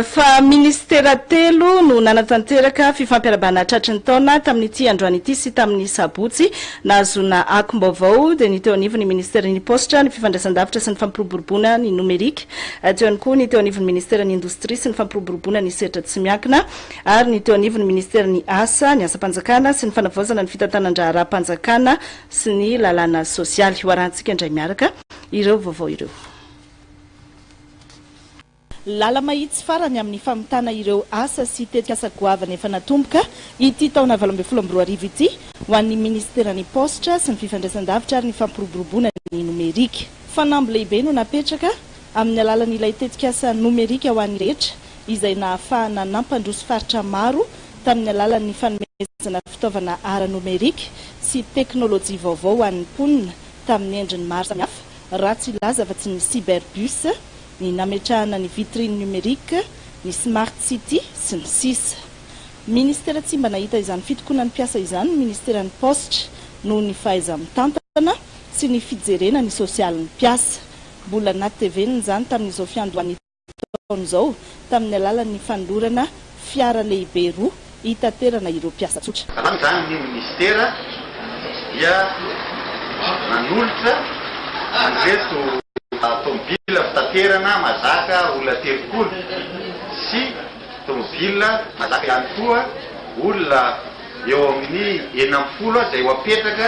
fa minisitera telo no nanatanteraka fifampiarabana tratry ny taona tamin'ity androany ity sy tamin'ny sabotsy. Nahazoana akom-baovao dia ny teo anivon'ny minisiteran'ny paositra, ny fifandraisandavitra sy ny fampiroboroboana ny nomerika, teo ihany koa ny teo anivon'ny minisiteran'ny indostria sy ny fampiroboroboana ny sehatra tsy miankina ary ny teo anivon'ny minisiteran'ny asa, ny asam-panjakana sy ny fanavaozana ny fitantanan-draharaham-panjakana sy ny lalàna sosialy. Hoarahantsika indray miaraka ireo vaovao ireo. Lala-mahitsy farany amin'ny famitana ireo asa sy tetikasa goavana efa natomboka ity taona valo ambin'ny folo amby roa arivo ity ho an'ny Minisiteran'ny Paositra sy ny Fifandraisandavitra ary ny Fampiroboroboana ny Nomerika. Fanamby lehibe no napetraka amin'ny alalan'ilay tetikasa Nomerika ho an'ny rehetra izay nahafahana nampandroso faritra maro tamin'ny alalan'ny fanomezana fitaovana ara-nomerika sy teknolojia vaovao ho an'ny mponina tamin'ny endriny maro samihafa Ratsy hilaza fa tsy ny cyberbus, ny nametrahana ny vitrine numérique, ny smart city, sy ny sisa Ministera tsy mba nahita izany fitokonan'ny mpiasa izany ny Ministeran'ny Paositra noho ny fahaiza-mitantana sy ny fijerena ny sosialin'ny mpiasa. Mbola natevenina izany tamin'izao fiandohan'ity taona izao tamin'ny alalan'ny fanolorana fiara lehibe roa hitaterana ireo mpiasa tsotra. Manao izany ny minisitera dia nanolotra an'ireto tomobila fitaterana mahazaka olona telopolo sy tomobila mahazaka ihany koa olona eo amin'ny enina ambin'ny folo izay ho apetraka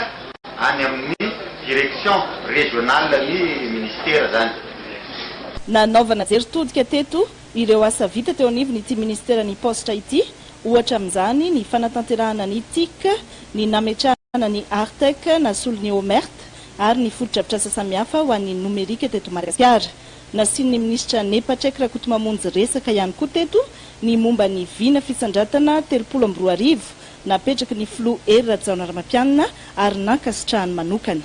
any amin'ny direction régionale ny minisitera izany. Nanaovana jery todika teto ireo asa vita teo anivon'ity minisiteran'ny Paositra ity, ohatra amin'izany ny fanatanterahana ny TIC, ny nametrahana ny Artec nasolo ny OMERT ary ny fotodrafitrasa samihafa ho an'ny nomerika teto Madagasikara. Nasian'ny minisitra Ne Patrick Rakotomamonjy resaka ihany koa teto ny momba ny vina fisandratana telopolo amby roa arivo napetraky ny filoha Hery Rajaonarimampianina ary nankasitrahany manokana.